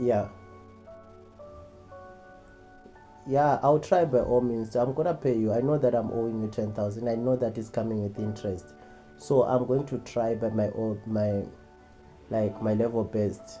yeah yeah i'll try by all means i'm gonna pay you i know that i'm owing you 10000 i know that is coming with interest so i'm going to try by my own my like my level best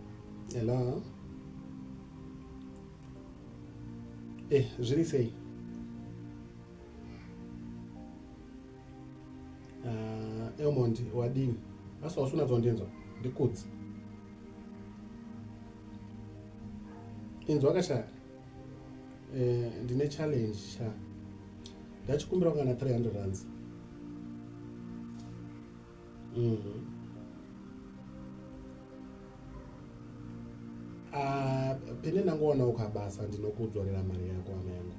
Hello. Eh, zviri sei? Uh, Elmond, wadini? Asi wasuna dzondinzwa? Ndikudzi. Inzwa kasha. Eh, ndine challenge sha. Ndachikumbira kana 300 rands. mm -hmm. Ah, pene ndangoona ukabasa ndinokudzorera mari yako ana yangu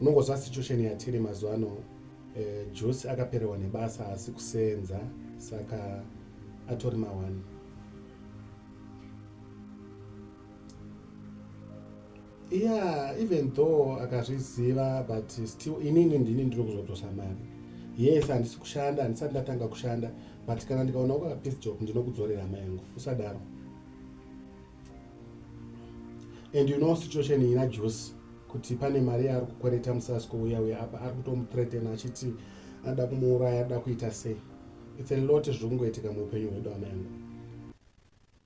unongozva situation yatiri mazuva ano eh, jose akapererwa nebasa asi kusenza saka atori mawani yeah even though akazviziva but still inini ndini ndiri kuzotosa mari yes handisi kushanda handisati ndatanga kushanda but kana ndikaona uka peace job ndinokudzorera hama yangu usadaro and you know situation ina juice kuti pane mari yaari kukwereta musasi kouya uya apa ari kutomutretena achiti anoda kumuuraya anoda kuita sei its a lot zviri kungoitika muupenyu hwedu hama yangu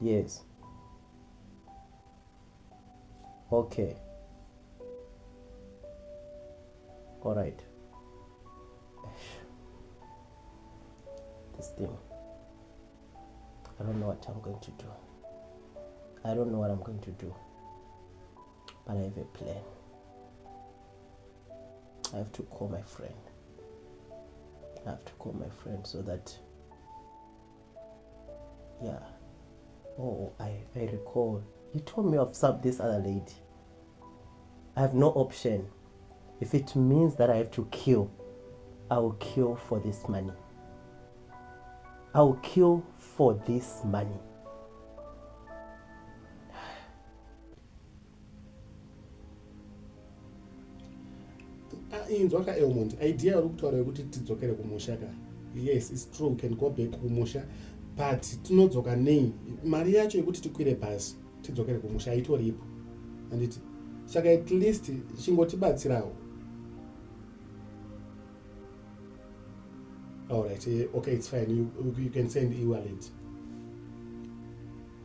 yes okay all right this thing i don't know what i'm going to do i don't know what i'm going to do but i have a plan i have to call my friend i have to call my friend so that yeah oh i, I recall he told me of some, this other lady i have no option if it means that i have to kill i will kill for this money i will kill for this money Ah, inzwa ka elmond idea yauri kutaura yekuti tidzokere kumusha ka yes its true we can go back kumusha but tinodzoka nei mari yacho yekuti tikwire bhasi tidzokere kumusha haitoripo anditi saka at least chingotibatsirawo allright eh, okay its fine you, you can send ewallet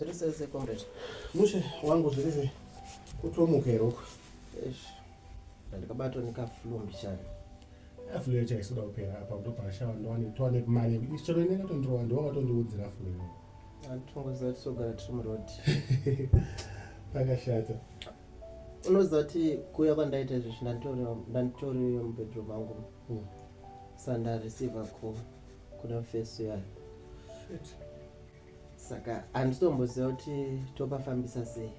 zviri sese comrade mushe wangu zviri sei kutomuka here uko ndandikabatwa nekaflu mbichana aflu yacho aisoda kupera apa kutobva ashava ndowane towane mari yekuti chero inengatondirova ndowakatondiudzira aflu iyoyo Antongoziva tisogara tiri muroad. Pakashata. Unoziva kuti kuya kwandaita izvi zvindanditori mubedroom mangu. Hmm. Sanda receiver call kuna face yayo. Shit saka handitomboziva kuti topafambisa sei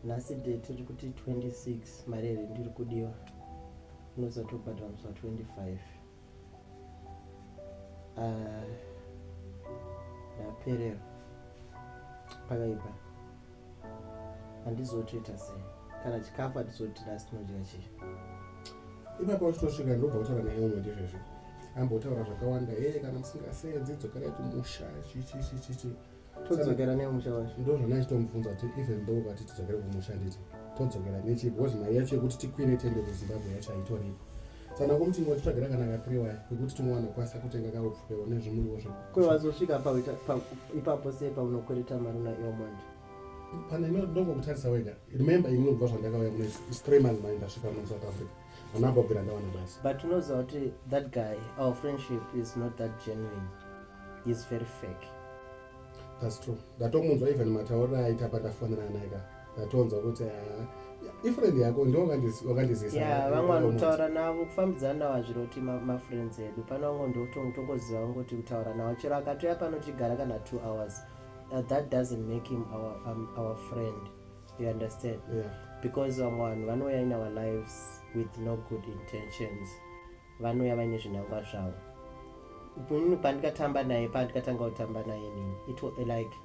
nhasi de tiri kuti 26 mari here ndiri kudiwa unozatobhadhara musi wa 25 ah, ndapererwa pakaipa handizotoita sei kana chikafu hatizoti last tinodya chii ipapo uchitosvika ndobva kutaura naye umwe ndizvezvo ambotaura zvakawanda ee kana musingaseedzi dzokerai kumusha chichichichichi todzokera nemusha wacho ndozvandaichitomubvunza kuti even though vati tidzokere kumusha nditi todzokera nechi because mari yacho yekuti tikwire tende kuzimbabwe yacho haitoripo saka kumuti ngotitsvagira kana katriwaya kekuti tinowana kwasa kutenga kaupfukewo nezvimuriwo zve kwewazosvika ipapo sei paunokwereta mari una iwo manje pane ndongokutarisa wega remember ini unobva zvandakauya mune is three months mai ndasvika muno south africa Ana Bobby randawana basi. But unoziva kuti that guy our friendship is not that genuine. He is very fake. That's true. Ndatomunzwa even matauriro aita pandafonera naye ka. Ndatonzwa kuti ah, ifriend yako ndo wakandizisa. Yeah, vamwe vanotaura navo kufambidzana navo hazviri kuti mafriends edu. Pana vamwe ndotongoziva vangu kuti kutaura navo chero akatouya pano tichigara kana two hours. Uh, that doesn't make him our, um, our friend. you understand yeah. because vamwe vanhu vanouya in our lives with no good intentions vanouya vaine zvinangwa zvavo inini pandikatamba naye pandikatanga kutamba naye nini it was like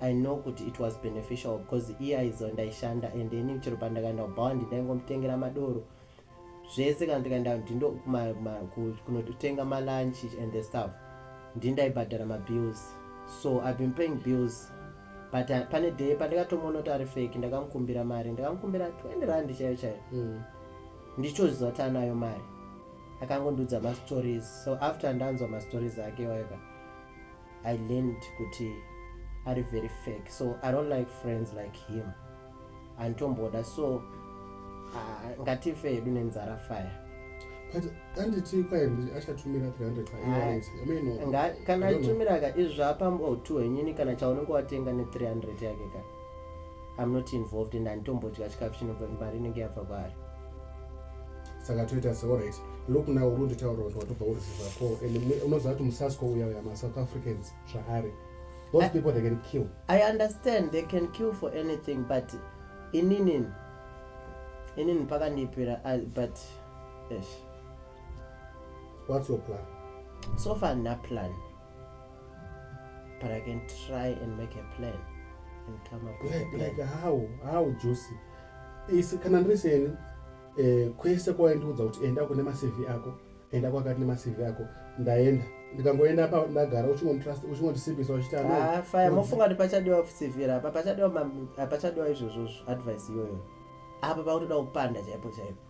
i know kuti it was beneficial because iye aizo ndaishanda and inini chero pandakaenda kubhawandi ndaingomutengera madoro zvese kana tikaenda ndindo kunotenga malunch and the stuff ndindaibhadhara mabills so i've been paying bills but uh, pane day pandikatomuona kuti ari fake ndakamukumbira mari ndakamukumbira 20 rand chaiyo chaiyo mm. ndichitoziva kuti anayo mari akangondiudza mastories so after ndanzwa mastories ake waiva i learned kuti ari very fake so i don't like friends like him handitomboda so ah, ngatife hedu nenzara fire but anditi kwaye achatumira 300 pairns i mean no, Nga, I kana don't know. atumira ka izvi zvaapamba utu hwenyini kana chaunenge watenga ne 300 yake ka i'm not involved and handitombodya chikafu chinobva mari inenge yabva kwaari saka toita se alright look now urundi taura kuti watobva uruziva ko and mu- unoziva kuti musasco uya uya masouth africans zvaari those I, people they can kill i understand they can kill for anything but inini inini mpaka ndiipira uh, but esh what's your plan so far na plan but i can try and make a plan and come up like, with a plan. like how how juicy is kana ndiri seni eh, kwese kwawaindiudza kuti enda kune macv ako enda kwakati nemacv ako ndaenda ndikangoenda apa ndagara uchingondisimbisa uchitafaya ah, mofunga kuti pachadiwa kusivira apa pachadiwa izvozvozvo advice iyoyo apa pakutoda kupanda chaipo chaipo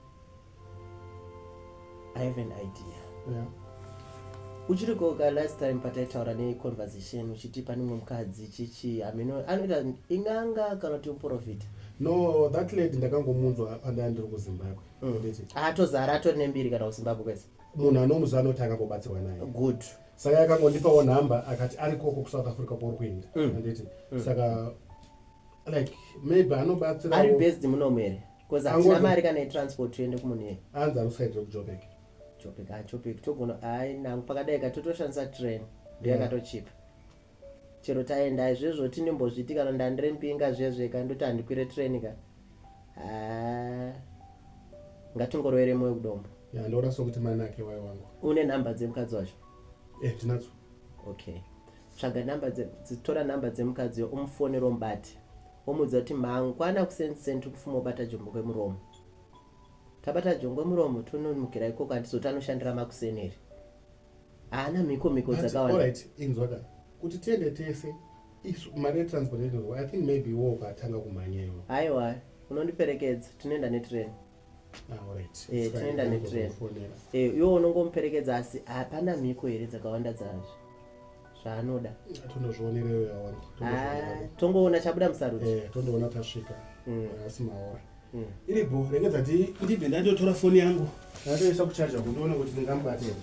i have an idea yeah. uchiri koka last time pataitaura neconversation uchiti pane mwe mukadzi chichi amino anoita inganga kana kuti muprofita no that lady ndakangomunzwa pandaya ndiri kuzimbabwe atozara atori nembiri kana kuzimbabwe kwese munhu anomuziva anoti akambobatsirwa naye good saka yakangondipawo nhamba akati ari koko kusouth africa kwauri kuenda mm. anditi mm. saka like maybe anobatsira ari based munomu here bcause hatina mari kana yetransport toende kumunhu here anzi anosaitre kujobek jobek ajobek ah, togona ai nangu pakadai ka totoshandisa train ndoyakatochipa mm. chero taenda izvezvo tinembozviti kana ndandire mpinga zvezve ka ndoti handikwire train ka haa ngatingorovere moyo kudombo ya ndaona sokuti mai nake wai wangu une number dzemukadzi wacho eh ndinadzo okay tsvaga number dze- dzi- tora number dzemukadzi yo umufonero mubati womuudza kuti mangwana kusenseni tiri kufuma ubata jombo kwemuromo tabata jombo kwemuromo tononukira ikoko handizoti anoshandira makuseni here haana mhiko mhiko dzakawanda inzwa ka kuti tiende tese mari yetransport i think maybe wo ukatanga kumhanya iwo haiwa unondiperekedza tinoenda netrain ah, eh, tinoenda netrain eh, iwo unongomuperekedza asi hapana mhiko here dzakawanda dzazvo zvaanoda tondozvionera iyoyo yawangu Ah, tongoona chabuda musarudzo Eh, tondoona tasvika Mm. asi maora Mm. iri bho regedza ti ndibve ndandotora foni yangu ndatoisa kuchaja kundiona kuti ndingamubate here.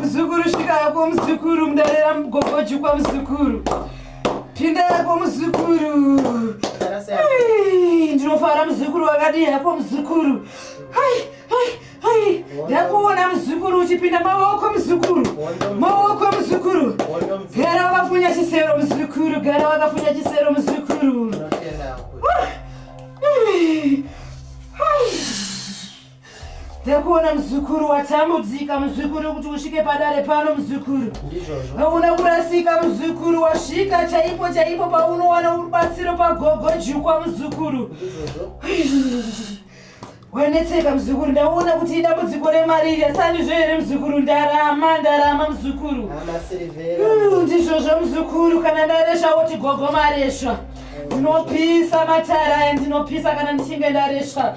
Muzukuru svika yako muzukuru mudarira mugogo jukwa muzukuru. Pinda yako muzukuru. Ndinofara muzukuru wakadii yako muzukuru. Hai hai hai. Ndakuona muzukuru uchipinda maoko muzukuru. Maoko muzukuru. Gara wakafunya chisero muzukuru. Gara wakafunya chisero muzukuru. Hey. Ndakuona muzukuru watambudzika muzukuru kuti usvike padare pano muzukuru. Hauna kurasika muzukuru wasvika chaipo chaipo paunowana rubatsiro pagogo jukwa muzukuru. Wanetseka muzukuru ndaona kuti idambudziko remari iri asani zvo here muzukuru ndarama ndarama muzukuru. Ndizvozvo muzukuru kana ndaresva woti gogo maresva. Ndinopisa matara ndinopisa kana ndichinge ndaresva.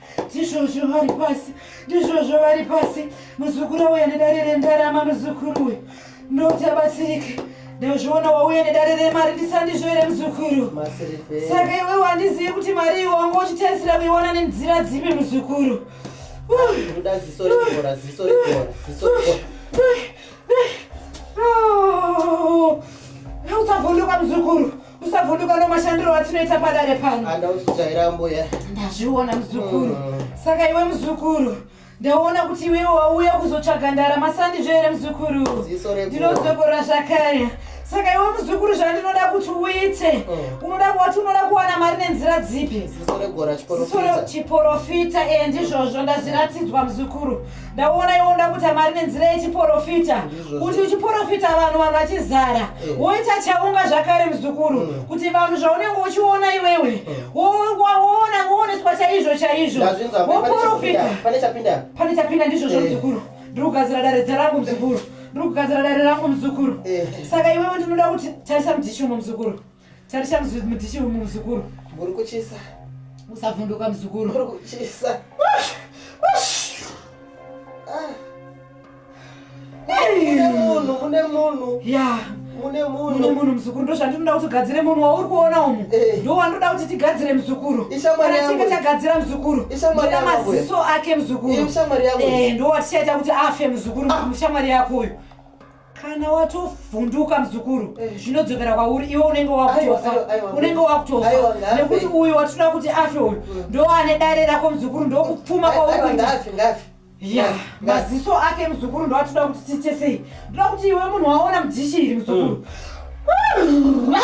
ndizvozvo vari pasi ndizvozvo vari pasi muzukuru auya nedare rendarama muzukuru uyu ndoti abatsirike ndozviona wauya nedare remari ndisandizvo here muzukuru saka iwe wandizivi kuti mari iyo wanga uchitarisira kuiwana nenzira dzipi muzukuru usavhunduka muzukuru usavhunduka nomashandiro atinoita padare pano andauzvitaira mbuya ndazviona muzukuru mm. saka iwe muzukuru ndaona kuti iwewe wauya kuzotsvaga ndara masandizvo here muzukuru ndinozokorora zvakare saka iwe muzukuru zvandinoda kuti uite mm. unoda kuati unoda kuwana mari nenzira dzipi ziso rechiporofita e ndizvozvo ndazviratidzwa muzukuru ndaona iwo ndakuta mari nenzira yechiporofita kuti uchiporofita vanhu vanhu vachizara eh. woita chaunga zvakare muzukuru mm. kuti vanhu zvaunenge uchiona iwewe eh. woona wooneswa chaizvo chaizvo woporofita pane chapinda ndizvozvo eh. muzukuru ndiri kugadzira dare dza rangu muzukuru ndiri kugadzira dare rangu muzukuru saka iwewe ndinoda kuti tarisa mudhishomo muzukuru Tarisha mzukuru mutishi muzukuru. Muri kuchisa. Musavhunduka mzukuru. Muri kuchisa. munhu mune munhu ya mune munhu mune munhu mzukuru ndozvandinoda kuti ugadzire munhu wauri kuona umu eh. ndo wandoda kuti tigadzire mzukuru kana tinge tagadzira mzukuru ndoda maziso ake mzukuru eh, ndo watichaita kuti afe mzukuru ah. mushamwari yako uyu kana watovhunduka muzukuru eh. zvinodzokera kwauri iwe unenge wakutofa unenge wakutofa nekuti uyu watinoda kuti afe uyu mm. ndo ane dare rako muzukuru ndo kupfuma kwauri kuita ya maziso ake muzukuru ndo atinoda kuti tiite sei ndoda kuti iwe munhu waona mudhishi iri muzukuru mm.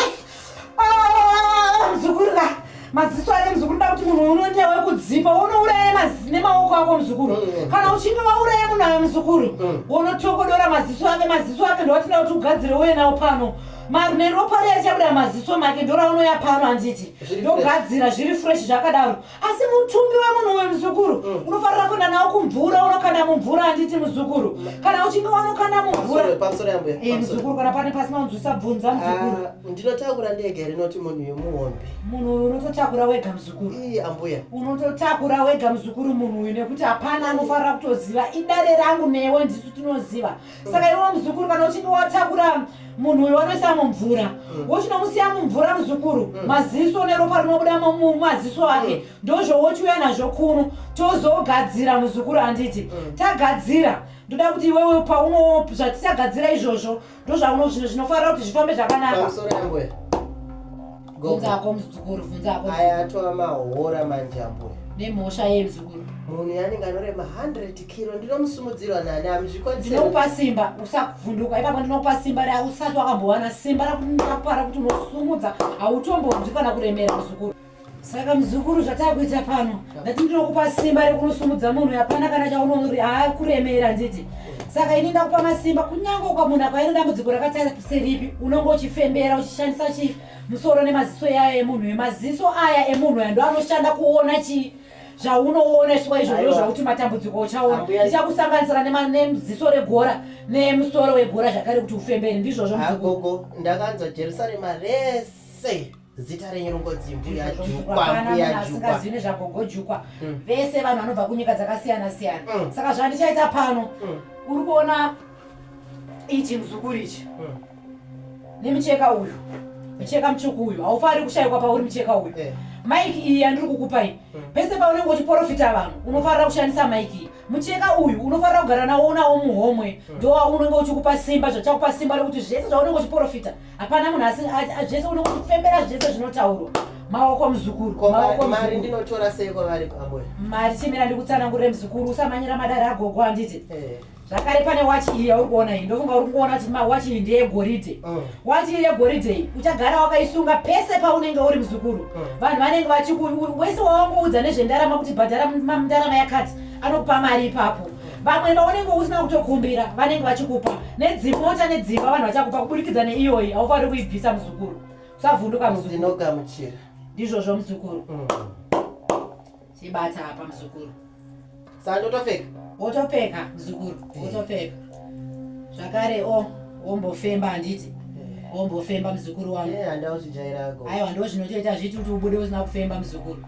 Ah, mzukuru ka maziso ake mzukuru nda kuti munhu unoita wekudzipa unouraya maziso nemaoko ako mzukuru mm, mm. kana uchinge wauraya munhu aya mzukuru mm. wonotokodora maziso ake maziso ake ndowatinda kuti ugadzire uye nawo pano marume ropa riya richabuda maziso make ndoraunoya pano handiti ndogadzira zviri fresh zvakadaro asi mutumbi wemunhu uyu muzukuru mm. unofanira kuenda nawo kumvura unokanda mumvura handiti muzukuru mm. kana uchinge wanokanda mumvuramuzukuru eh, kana pane pasina unzwisa bvunza ah, muzukuru ndinotakura ndega rinoti munhu uyu muhombe munhu uyu unototakura wega muzukuru ii ambuya unototakura wega muzukuru munhu uyu nekuti hapana anofanira kutoziva idare rangu newe ndisu tinoziva saka iwe muzukuru kana uchinge watakura munhu uyo wanoisa mumvura mm. wochinomusiya mumvura muzukuru mm. maziso neropa rinobuda mumaziso ake mm. ndozvowochiuya nazvo kuno tozogadzira muzukuru handiti tagadzira ndoda kuti iwewe pauno zvatichagadzira izvozvo ndozvauno zvino zvinofanira kuti zvifambe zvakanaka bvunza hako muzukuru bvunza hako aya atova mahora manje ambuya nemhosva yei muzukuru munhu yanenge anorema 100 kilo ndinomusimudzirwa nani amuzvikwanisinokupa simba usavhunduka ipapo ndinokupa simba re usati wakambowana simba rakuakupara kuti unosumudza hautombonzwi kana kuremera muzukuru saka muzukuru zvatava kuita pano ndati ndinokupa simba rekunosumudza munhu hapana kana chaunoakuremera nditi saka ini ndakupa masimba kunyange ukamunhu akaine dambudziko rakataira kuseripi unonge uchifembera uchishandisa chii musoro nemaziso yayo emunhu uyu maziso aya emunhu uya ndo anoshanda kuona chii zvaunoona chiwa izvozvo zvakuti matambudziko uchaona ichakusanganisira neziso regora nemusoro wegora zvakare kuti ufembere ndizvozvo agogo ndakanzwa jerusarema rese zita renyu rongodzi mbuya jukwa mbuya jukwa zvine zvagogo jukwa mm. vese vanhu vanobva kunyika dzakasiyana siyana mm. saka zvandichaita pano mm. uri kuona ichi muzukuru ichi nemicheka uyu mucheka mutsvuku uyu haufaniri kushayikwa pauri mucheka uyu eh. maiki iyi yandiri kukupa iyi hmm. pese paunenge uchiporofita vanhu unofanira kushandisa maiki iyi mucheka uyu unofanira kugara nawo unawo muhomwe hmm. ndowaunenge uchikupa simba zvachakupa simba rekuti zvese zvaunenge uchiporofita hapana munhu asi zvese uno kufembera zvese zvinotaurwa maoko muzukuru mari ndinotora sei kwavari pamwe mari chimira ndikutsanangurire muzukuru usamanyira madari agogo handiti eh. zvakare pane wachi iyi yauri kuona iyi ndofunga uri kuona kuti mawachi iyi ndeyegoridhe oh. wachi iyi yegoridhe iyi uchagara wakaisunga pese paunenge uri muzukuru oh. vanhu vanenge vachiku wese wawangoudza nezvendarama kuti bhadhara ndarama yakati anokupa mari ipapo vamwe vaunenge usina kutokumbira vanenge vachikupa nedzimota nedzimba vanhu vachakupa kuburikidza neiyoyi haufaniri kuibvisa muzukuru usavhunduka muzukuru ndizvozvo muzukuru mm. chibata apa muzukuru sandotopfeka wotopfeka muzukuru eh. wotopfeka zvakare o wombofemba handiti eh. wombofemba muzukuru wangu eh, aiwa ndo zvinotoita zviti kuti ubude usina kufemba muzukuru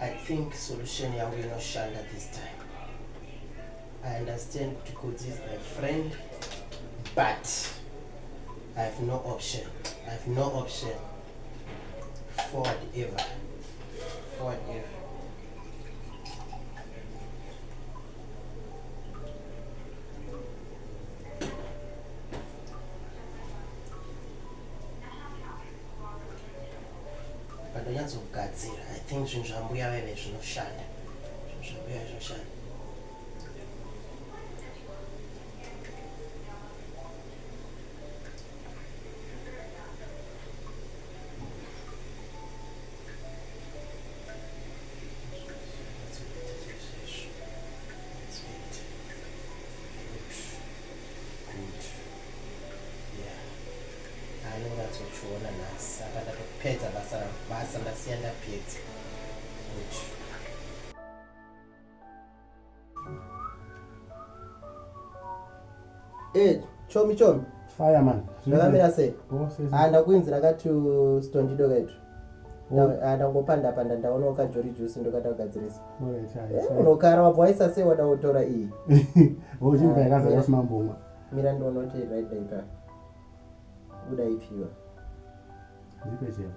I think solution yangu inoshanda this time. I understand kuti Kudzi is my friend, but I have no option. I have no option. Forward ever. Forward ever. Pandonyatsogadzira, I think zvinhu zvambuya veve zvinoshanda. Zvinhu zvambuya zvinoshanda. anonatsochiona nhasi apa ndatopedza basa rangu basa ndasiya ndapedza kuti eh, chomi chomi fire man ndakamira sei oh, ah, ndakuinzira kati stondido kaitu ndangopanda panda ndaona ukajori jusi ndokata kugadzirisa eh, unokara wabva waisa sei wada kutora iyi mira ndonoti right daipa Uda ipi iwe? Ndipe chero.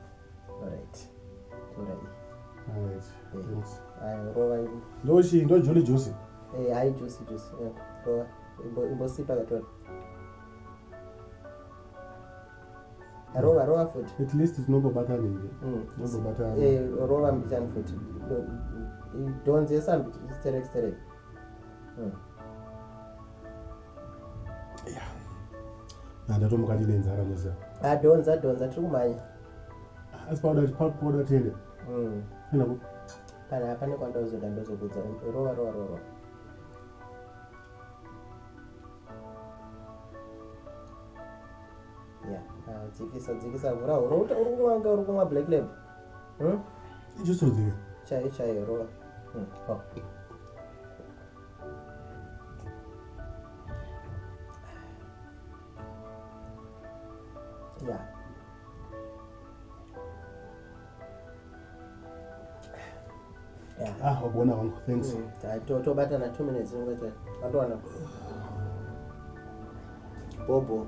Alright. Tora iyi. Alright. Thanks. Ayo rova iyi. Ndo chi ndo Julie Juice. Eh, hai Juice Juice. Eh, rova. Imbo imbo sipa katora. Rova rova futi. At least tinobobata nini. Mm. Tinobobata. Eh, rova mbichani futi. Donzesa mbichani sterek sterek. Mm. ndatomuka ndine nzara musa adhonza ah, dhonza tiri kumhanya asi pauda tiende hmm. kana pane kwandaozoda ndozokudza rova rova rova ah, dzikisa dzikisa vhura huro uri kumwa kunge uri kumwa black lab hmm? ichosodzika chaiyo chaiyo rova hmm, Yeah. Yeah. Ah, wabona wangu, thanks. Mm, ta- to- tobatana two minutes ngoita watowana bobo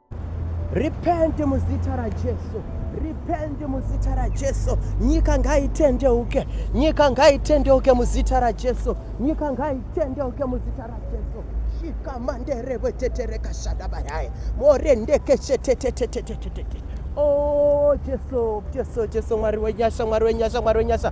Repent muzita raJesu. Repent muzita raJesu. Nyika ngaitendeuke. Nyika ngaitendeuke muzita raJesu. Nyika ngaitendeuke muzita raJesu. Shika mandere wetetereka shadabarai. Morendeke chetetetetetetete. Oh Jesu, Jesu, Jesu Mwari wenyasha, Mwari wenyasha, Mwari wenyasha.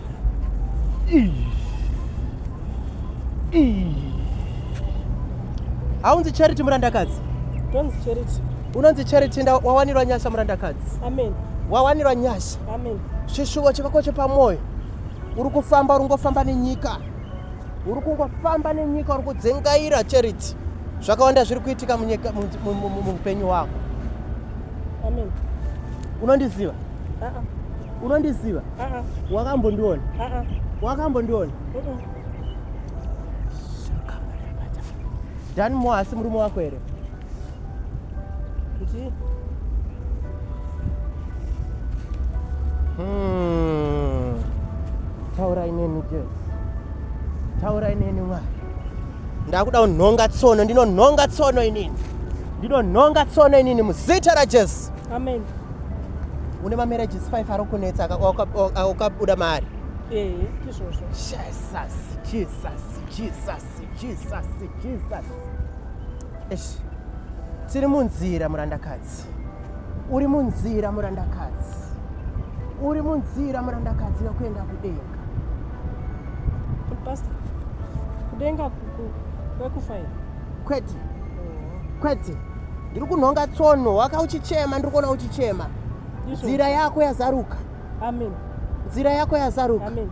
haunzi charity murandakadzi tonzi charity unonzi charity nda wawanirwa nyasha murandakadzi amen wawanirwa nyasha amen chishuvo chikako chepamwoyo uri kufamba uri ngofamba nenyika uri kungofamba nenyika uri kudzengaira charity zvakawanda zviri kuitika muupenyu hwako amen unondiziva unondiziva wakambondiona wakambondiona dan mo asi murume wako here hmm. taurai neni jes taurai neni mwari ndakuda kunhonga tsono ndinonhonga tsono inini ndinonhonga tsono inini muzita rajesu amen une mamarriages five ari kunetsa akabuda maari ee izvozvo jesus jesus jesus jesus jesus esh tiri munzira murandakadzi uri munzira murandakadzi uri munzira murandakadzi yokuenda kudenga past kudenga kwekufa kwete kwete ndiri kunhonga tsono waka uchichema ndiri kuona uchichema nzira yako yazaruka amen nzira yako yazaruka amen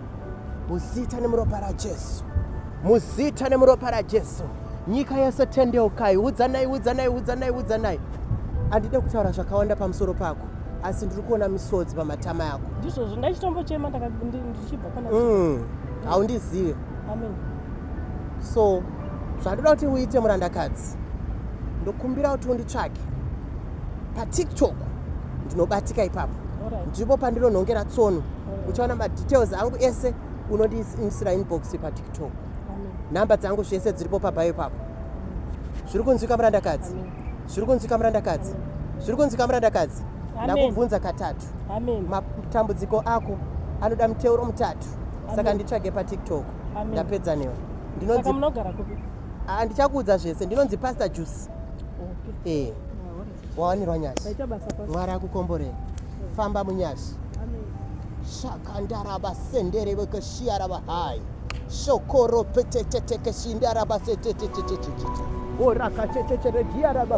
muzita nemuropa rajesu muzita nemuropa rajesu nyika yese tendeukai udzanai udzanai udzanai udzanai handide kutaura zvakawanda pamusoro pako asi ndiri kuona misodzi pamatama yako ndizvozvo ndaichitombochema ndichibva mm, haundizive amen so zvandoda kuti uite murandakadzi ndokumbira kuti unditsvake patiktok ndinobatika ipapo ndipo pandinonhongera tsono uchaona madetails angu ese unondiisira inbox patiktok nhamba dzangu zvese dziripo pabhayo ipapo zviri kunzwika murandakadzi zviri kunzwika murandakadzi zviri kunzwika murandakadzi ndakubvunza katatu matambudziko ako anoda muteuro mutatu saka nditsvage patiktok ndapedza newe ndinonzi munogara kupi ah, ndichakuudza zvese ndinonzi pastor juice okay. eh wawanirwa nyashi mwari akukomborei famba munyashi shakandaraba sendere vekashiyaraba hai shokoro petetetekeshindaraba setetetetetetete orakachechetere diyaraba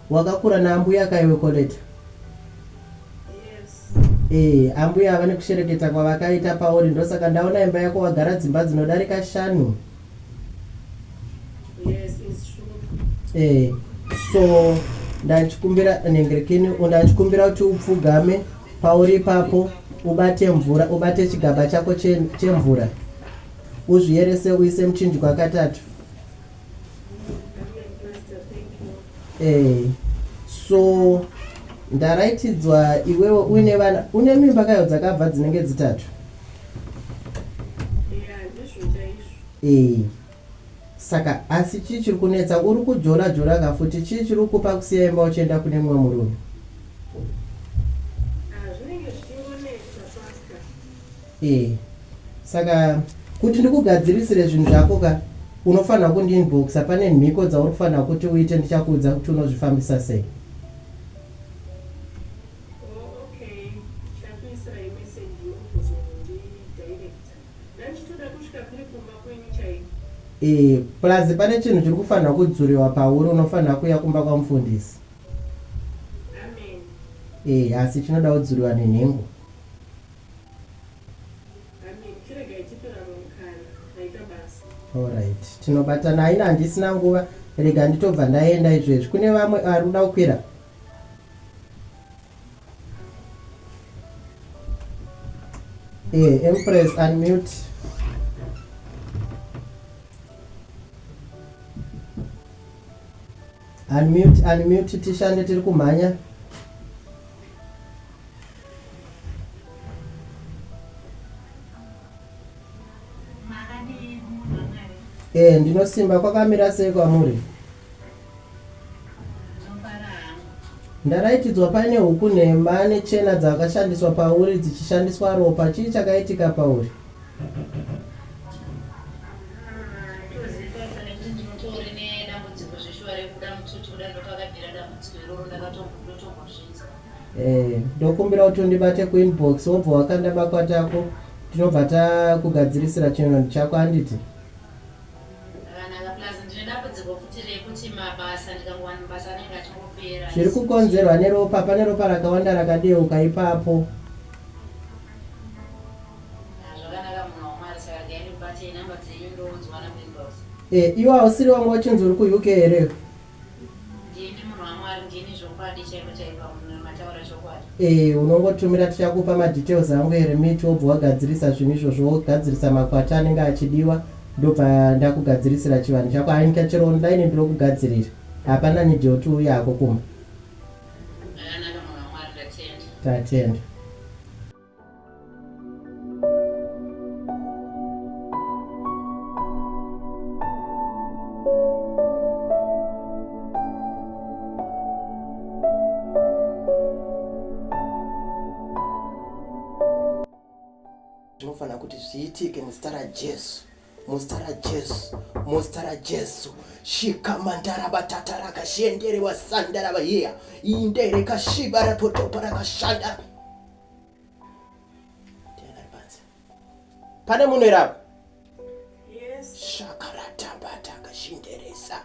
Wakakura naambuya ka iwe Koleta? Eh, ambuya ava nekushereketa kwavakaita pauri ndosaka ndaona imba yako wagara dzimba dzinodarika shanu. Yes, it's true. Eh, so ndachikumbira nhengerekeni ndachikumbira kuti upfugame pauri ipapo ubate mvura ubate chigaba chako che- chemvura uzviyerese uise muchinjwa katatu Eh, so ndaraitidzwa iwewo uine vana une mimba kayo dzakabva dzinenge dzitatu ee eh, saka asi chii chiri kunetsa uri kujola jola ka futi chii chiri kukupa kusiya imba uchienda kune mumwe murume Eh, saka kuti ndikugadzirisire zvinhu zvako ka unofanira kundiinboxa pane mhiko dzauri kufanira kuti uite ndichakuudza kuti unozvifambisa sei e plus pane chinhu chiri kufanira kudzuriwa pauri unofanira kuya kumba kwamufundisi e asi chinoda kudzuriwa nenhengo Alright, tinobatana haina handisina nguva rega nditobva ndaenda izvezvi kune vamwe ari kuda kukwira eh, empress unmute Unmute, unmute, tishande tiri kumhanya. Eh, ndinosimba kwakamira sei kwamuri? Ndaraitidzwa paine huku nhema nechena dzakashandiswa pauri dzichishandiswa ropa. Chii chakaitika pauri? Eh, ndokumbira kuti undibate kuinbox wobva wakanda makwati ako tinobva takugadzirisira chinhu chako anditi zviri kukonzerwa neropa pane ropa rakawanda rakadeuka ipapo Haa zvakanaka munhu waMwari saka regai ndikubatei number dzenyu ndounzwa naPrimrose. Eh iwe hausiri wanga uchinzi uri kuUK here iwe? Ndini munhu waMwari ndini zvokwadi chaiko chaiko apo munhu mataura chokwadi. Eh unongotumira tichakupa madetails angu eRemit wobva wagadzirisa zvinhu izvozvo wogadzirisa makwati anenge achidiwa ndobva ndakugadzirisira chivanhu chako haa nyika chero online ndinokugadzirira hapana need yekuti uuye hako kumba. Zvakanaka munhu waMwari ndatenda. Tatenda. zvinofanira kuti zviitike muzita rajesu muzita rajesu muzita rajesu shikamandarabatataraka rakashenderewa sandarava hiya inderekashiba rapotopa rakashandara pane munhu here apa shakaratambatakashinderesa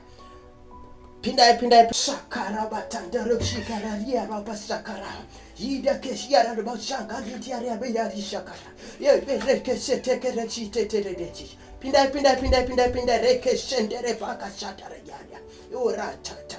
pindai pindai shakarabatandaroshikaraiyarapa shakara yidakeshiyararobashangarityarabeyarishakara yeberekesetekerechiteteredechi pindai pindai pindai pindai pindai rekeshenderebakashatarayarya iworatata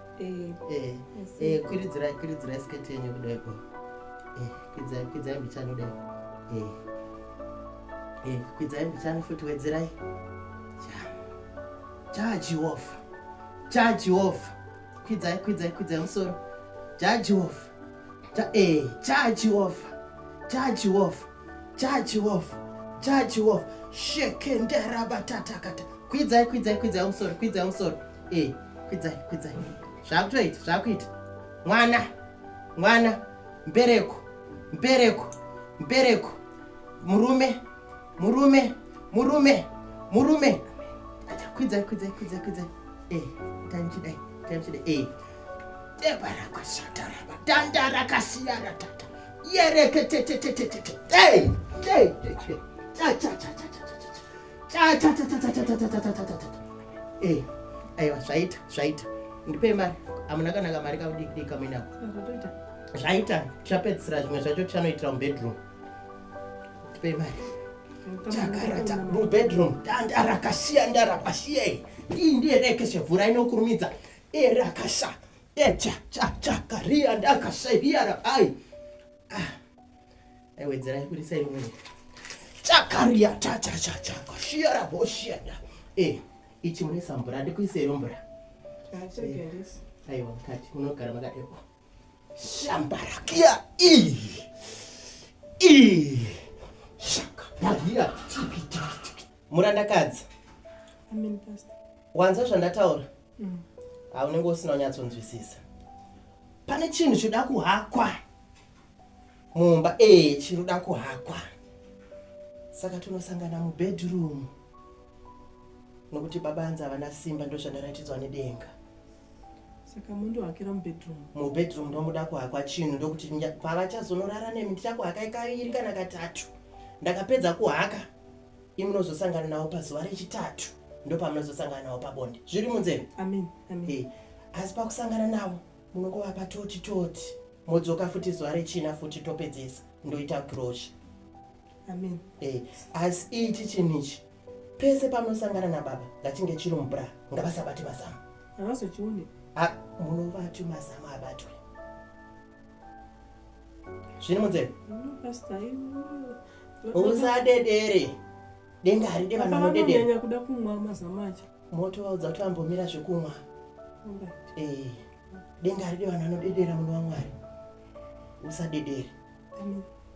Eh, eh, eh, kwiridzirai kwiridzirai sketi yenyu kudaiko eh, kwidzai kwidzai mbichani kudai eh, eh, kwidzai mbichani futi wedzerai jajiofa jajiofa kwidzai kwidzai kwidzai musoro jajiofa jajiofa jajiofa Chachi wolf, chachi wolf, shekendera batatakata. Kwidzai, kwidzai, kwidzai umusoro, kwidzai umusoro. Eh, kwidzai, kwidzai. Zvakutoita, zvakuita. Mwana, mwana, mbereko, mbereko, mbereko. Murume, murume, murume, murume. Acha kwidzai, kwidzai, kwidzai, kwidzai. Eh, tanchidai, tanchidai. Eh. Debara kwashatara, batanda rakasiyara tata. aiwa zvaita zvaita ndipei mari amuna kanaka mari kakudikidiki kamuinako zvaita chapedzisira zvimwe zvacho chanoitira mubedroom ndipei mari chakarata mubedroom ndarakasiya ndarakasiya iyi ndiye rekeshe vhura inokurumidza erakasa Echa cha cha karia ndaka shaiya ra ai. Ah. Ai wedzera kuri sai mwe. Cha karia cha cha cha cha ka shia ra bo shia da. Eh, ichi mune sambura ndi kuise rombura. Ah, cha kendis. Ai wa kati kuno kara maka epo. Shambara kia i. I. Shaka. Bagia. Tiki tiki. murandakadzi wanzwa zvandataura mm. haunenge usina unyatsonzwisisa pane chinhu choda kuhakwa mumba ee eh, chinoda kuhakwa saka tunosangana mubedroom nokuti baba anzi havana simba ndozvandaratidzwa nedenga saka mundohakira mubedroom mubedroom ndomuda kuhakwa chinhu ndokuti pavachazonorara nemi ndichakuhakai kaviri kana katatu ndakapedza kuhaka imunozosangana navo pazuva rechitatu ndopamunozosangana navo pabonde zviri munzeve amen amen eh, asi pakusangana navo munongovapa toti toti modzoka futi zuva rechina futi topedzesa ndoita grosha amen eh, asi ichi chinhu ichi pese pamunosangana nababa ngachinge chiri mubra ngavasabati mazama havazochione munovati mazama abatwe zviri munzeve usadedere denga haride vanhu vanodedera kuda kumwa mazama acho moto vaudza kuti vambomira zvekumwa eh, denga haride vanhu vanodedera muno wamwari usadedere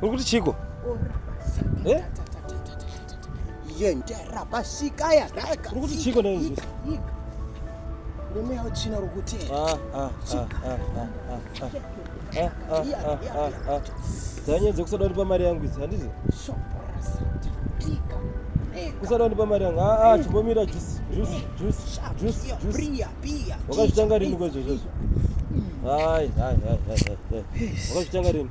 Uri kuti chiko? Eh? Yendera pasika ya raka. Uri kuti chiko ndani izvi? Murume yawo china uri kuti. Ah ah ah ah ah. Ah ah ah ah ah. Dzanye dzokusada ndipa mari yangu idzi handizi? Shoprasa. Pika. Kusada ndipa mari yangu. Ah ah chibomira juice juice juice juice juice. Bria bia. Wakazvitanga rini kwezvo izvozvo? Hai hai hai hai. Wakazvitanga rini?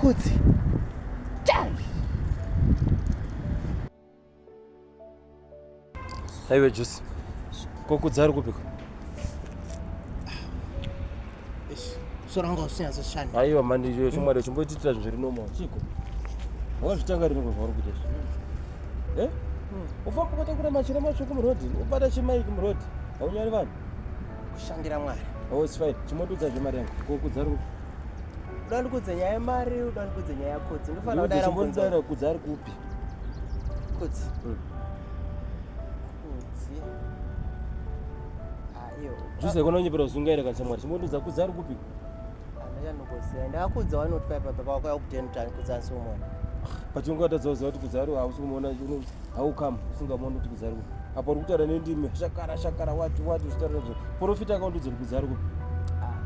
Kudzi. Aiwe Juice. Kokudza ari kupiko? soro wanga usinyatsoshanda aiwa mandi chimwari uchimbotiitira zvinhu zviri normal chiko wazvitanga rini kunhu vari kuita zvinhu e eh? hmm. ufamba ukatakura machira matsvuku murodhi ubata chimaiki murodhi haunyari vanhu kushandira mwari oh its fine chimondudza zvemari yangu kokudza ri uda ndikudze nyaya yemari uda ndikudze nyaya yakudzi ndofanira kudaira mbonzaira kudzi ari kupi kudzi hmm. kudzi Juse kono nyepera zunga ira kancha mwari. Chimoto za kuzari kupi? Anaja no kuzari. Nda kudza wani otwa ipa baba wako yakupita mutani kudza so mwana. Pachunga ta zozo ati kuzari wa usu mwana juno how come usunga mwana kuti kuzari kupi? Apo ri kutara nendi me shakara shakara wati wati zvitara zvo. Profita ka ndudzi kuzari kupi? Ah.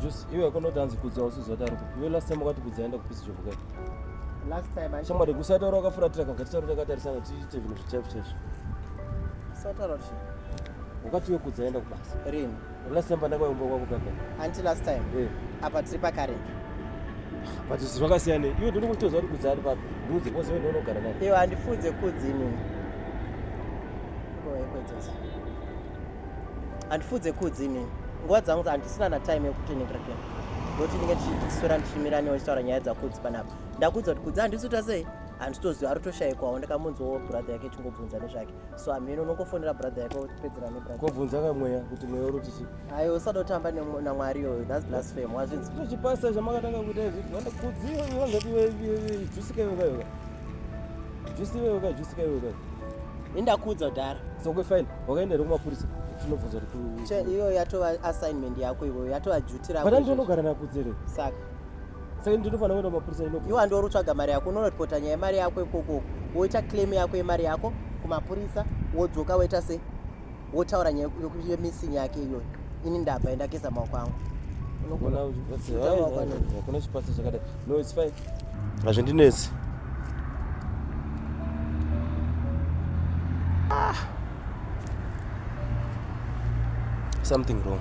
Juse iwe kono tanzi kudza usu zota ri kupi? Iwe last time wakati kudza enda kupisa jobo kai? Last time. Shamwari kusataura wakafuratira kagati taura takatarisana tiite zvinhu zvichafu chafu. Sataura kuti wakati iwe kudza enda kubasa. Rini? Last time pandakauya kumba kwako kaka. Until last time. Eh. Apa tiri pakare. But zvinhu zvakasiyana. Iwe ndiri kutoziva kuti kudza ari papi. Ndiudze pose iwe ndonogara naye. Iwe handifunze kudzi inini. Handifunze kudzi inini. Nguva dzangu handisina na time yekuti ndingarakira. Ngokuti ndinge ndichiswera ndichimira newe ndichitaura nyaya dzakudzi panapa. Ndakuudza kuti kudzi handisi kuita sei? Handitoziva ari kutoshaikwawo ndakamunzwawo brother yake chingobvunza nezvake. so hameno unongofonera brother yako kupedzera nebrother kobvunza kamweya kuti mweya uri tichi ayo usada kutamba namwari iyoyo thats blasphemy wazvinzi chipasa chamakatanga kuita izvi kudziwa vangati jusika iwe kayoka jusi iwe ka jusika iwe ka indakuudza kudhara sokwe fine wakaenda here kumapurisa tinobvunza kuti iyoyo yatova assignment yako iwoyo yatova duty rako but andinogara nakudzere saka saka ndinofanira kuenda kumapurisa ino iwa ndiwo rutsvaga mari yako unoripota nyaya yemari yako ikoko woita claim yako yemari yako kumapurisa wodzoka woita se wotaura nyaya yemissing yake iyoyo ini ndabva endageza maoko angu kuna chipatsa chakadai no its fine hazvindinetsi ah. something wrong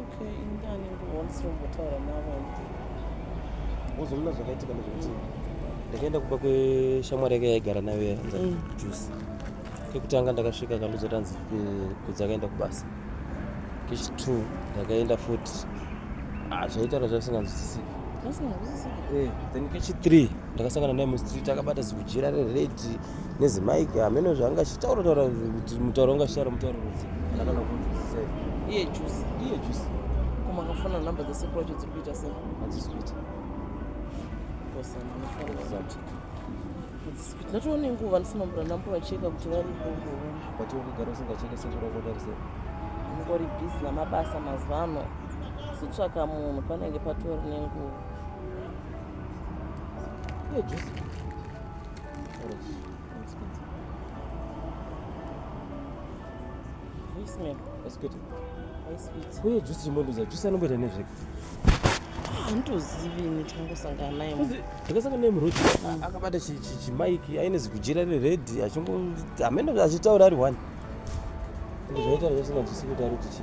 Okay, ingani ndiwonse umbotaura navo uzoona zvakaitika nezvekuti ndakaenda kuba kweshamwari yake yaigara nayo yaanza mm. juice kekutanga ndakasvika kandudzo tanzi eh, kudzi akaenda kubasa kechitwo ndakaenda futi ah, zvaitaura zvavisinganzwisisiki eh, then kechithree ndakasangana naye mustreet akabata zikujira rered nezimike hameno zvaanga chitaura taura kuti mutauro wanga chitaura mutauro rudzi ndakana kunzwisisa iye juice iye juice koma akafona number dzesekuru wacho dziri kuita sei hadzisi kuita ndatoone nguva ndisimambura nambo vacheka kuti varipo but ukugara usingacheke sekuru wako vari sei ngori busy namabasa mazuva ano kuzotsvaka munhu panenge patori nenguva Yeah, juice. Orange. It's good. Very smell. It's good. Very sweet. Uye juice chimbonduza juice anomboita nezvega. Handozivi ini changosangana naye. Ndakasangana naye muroad. Mm. Akabata chi chi chi mic aine zigujira re red achingo amene achitaura ari one. Ndizvoita zvese na juice kuti ari kuti chi.